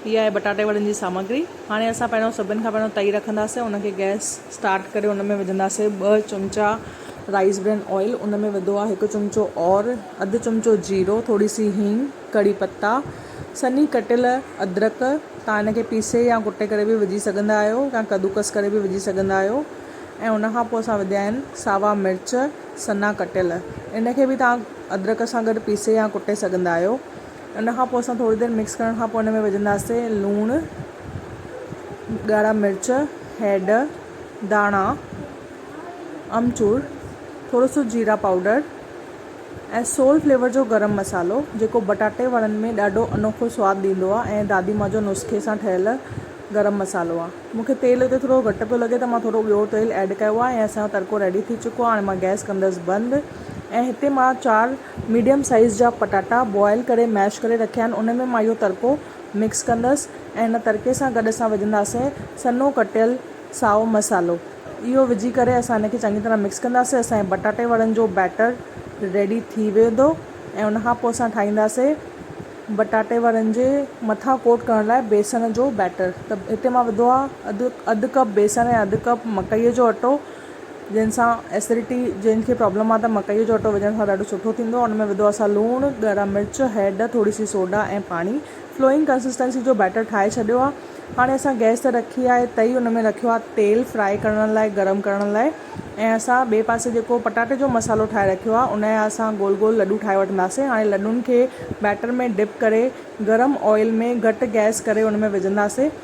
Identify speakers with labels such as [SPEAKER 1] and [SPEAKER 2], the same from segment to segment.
[SPEAKER 1] هي آهي بٽاٽي وڙن جي سامگري هاڻي اسان پهريون سڀن کان پهريون تئي رکنداسين ان کي گئس اسٽارٽ ڪري ان ۾ وجهنداسين ٻه چمچا رائس برين آئل ان ۾ وڌو آهي هڪ چمچو اور اڌ چمچو جيرو ٿوري سي هينگ ڪڙي پتا سنهي ڪٽيل ادرڪ تان ان کي پيسي يا ڪٽي ڪري به وجهي سگهندا آهيو يا ڪدوڪس ڪري به وجهي سگهندا آهيو ۽ ان کان پوء اسان وڌيا آهن ساوا مرچ سنا ڪٽيل ان کي به تان ادرڪ سان گڏ پيسي يا ڪٽي سگهندا آهيو ان کان پوء اسان ٿوري دير مڪس ڪرڻ کان پوء ان ۾ وجهنداسين لوڻ، ڳاڙها مرچ، هيڊ، داڻا، امچور، ٿورو سو جيرا پائوڊر ۽ سول فليور جو گرم مصالحو جيڪو بٽاٽي وڙن ۾ ڏاڍو انوکو سواد ڏيندو آهي ۽ دادي مان جو نسخي سان ٺهيل گرم مصالحو آهي. مون کي تيل اتي ٿورو گهٽ پيو لڳي ته مان ٿورو ٻيو تيل ايڊ ڪيو آهي ۽ اسان جو تڙڪو ريڊي ٿي چڪو آهي هاڻي مان گئس ڪندس بند ۽ هتي مان چار ميڊيم سائيز جا پٽاٽا بوائل ڪري ميش ڪري رکيا آهن ان ۾ مان اهو ترڪو مڪس ڪندس ۽ ان ترڪي سان گڏ اسان وجهنداسين سنهو ڪٽيل سائو مسالو اهو وجهي ڪري اسان ان کي چڱي طرح مڪس ڪنداسين اسان جي پٽاٽي وڙن جو بيٽر ريڊي ٿي ويندو ۽ ان کان پوء اسان ٺاهينداسين پٽاٽي وڙن جي مٿان ڪوٽ ڪرڻ لاء بيسڻ جو بيٽر ته هتي مان وڌو آهي اڌ اڌ ڪپ بيسڻ ۽ اڌ ڪپ مڪئي جو اٽو جنهن سان Acidity جنهن کي پرابلم آ ته مڪئي جو اٽو وجهڻ سان ڏاڍو سٺو ٿيندو آ ان ۾ وڌو آ اسان لوڻ ڳارا مرچ هيڊ ٿوري سي سوڊا ۽ پاڻي فلوئنگ ڪنسسٽنسي جو بيٽر ٺاهي ڇڏيو آ هاڻي اسان گئس تي رکي آ تئي ان ۾ رکيو آ تيل فرائي ڪرڻ لاء گرم ڪرڻ لاء ۽ اسان ٻئي پاسي جيڪو پٽاٽي جو مصالحو ٺاهي رکيو آ ان جا اسان گول گول لڏو ٺاهي وٺنداسين هاڻي لڏن کي بيٽر ۾ ڊپ ڪري گرم آئل ۾ گهٽ گئس ڪري ان ۾ وجهنداسين.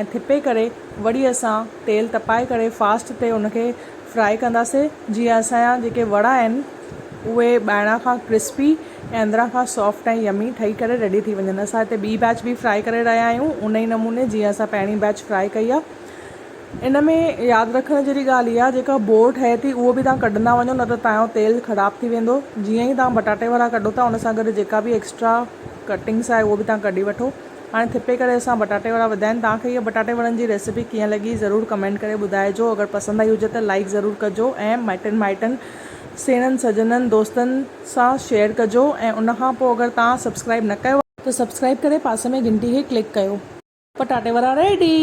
[SPEAKER 1] ۽ ٿپي ڪري وڙي اسان تيل تپائي ڪري فاسٽ تي ان کي فرائي ڪنداسي جيئن اسان جا جيڪي وڙا آهن اهي ٻاهران کان ڪرسپي ۽ اندران کان سافٽ ۽ يمي ٺهي ڪري ريڊي ٿي وڃن اسان هتي ٻي بيچ به فرائي ڪري رهيا آهيون ان ئي نموني جيئن اسان پهرين بيچ فرائي ڪئي آهي ان ۾ ياد رکڻ جهڙي ڳالهه اها جيڪا بور ٺهي ٿي اهو به تان ڪڍندا وڃو نه ته تان جو تيل خراب ٿي ويندو جيئن ئي تان بٽاٽي وڙا ڪڍو ٿا ان سان گڏ جيڪا به ايڪسٽرا ڪٽنگس آهي اهو به تان ڪڍي وٺو هاڻي ٿڦي ڪري اسان بٽاٽي وڙا وڌيا آهن توهان کي هيء بٽاٽي وڙن جي ريسيپي ڪيئن لڳي ضرور ڪمينٽ ڪري ٻڌائجو اگر پسند آئي هجي ته لائيڪ ضرور ڪجو ۽ مٽن مائٽن سيڻن سڄڻن دوستن سان شيئر ڪجو ۽ ان کان پوء اگر توهان سبسڪرائيب نه ڪيو آهي ته سبسڪرائيب ڪري پاسي ۾ گهنٽي کي ڪلڪ ڪيو. پٽاٽي وڙا ريڊي.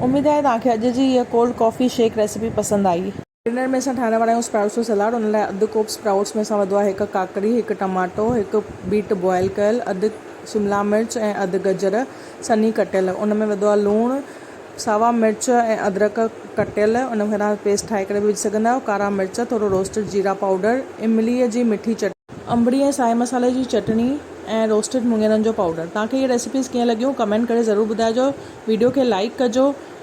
[SPEAKER 1] اميد آهي توهان کي اڄ جي هيء ڪولڊ ڪافي شيڪ ريسيپي پسند آئي. ڊنر ۾ اسان ٺاهڻ وارا آهيون اسپراٽس جو سلاڊ ان لاء اڌ ڪوپ اسپراٽس ۾ اسان وڌو آهي هڪ ڪاڪڙي هڪ ٽماٽو هڪ بيٽ بوائل ڪيل اڌ شملا مرچ ۽ اڌ گجر سنهي ڪٽيل ان ۾ وڌو آهي لوڻ ساوا مرچ ۽ ادرڪ ڪٽيل ان کي تهان پيسٽ ٺاهي ڪري به وجهي سگهندا آهيو ڪارا مرچ ٿورو روسٽيڊ جيرا پائوڊر املي جي مٺي چٽني انبڙي ۽ سائي مسالي جي چٽني ۽ روسٽيڊ مڱيرن جو پائوڊر تهان کي اهي ريسيپيز ڪيئن لڳيون ڪمينٽ ڪري ضرور ٻڌائجو ويڊيو کي لائيڪ ڪجو.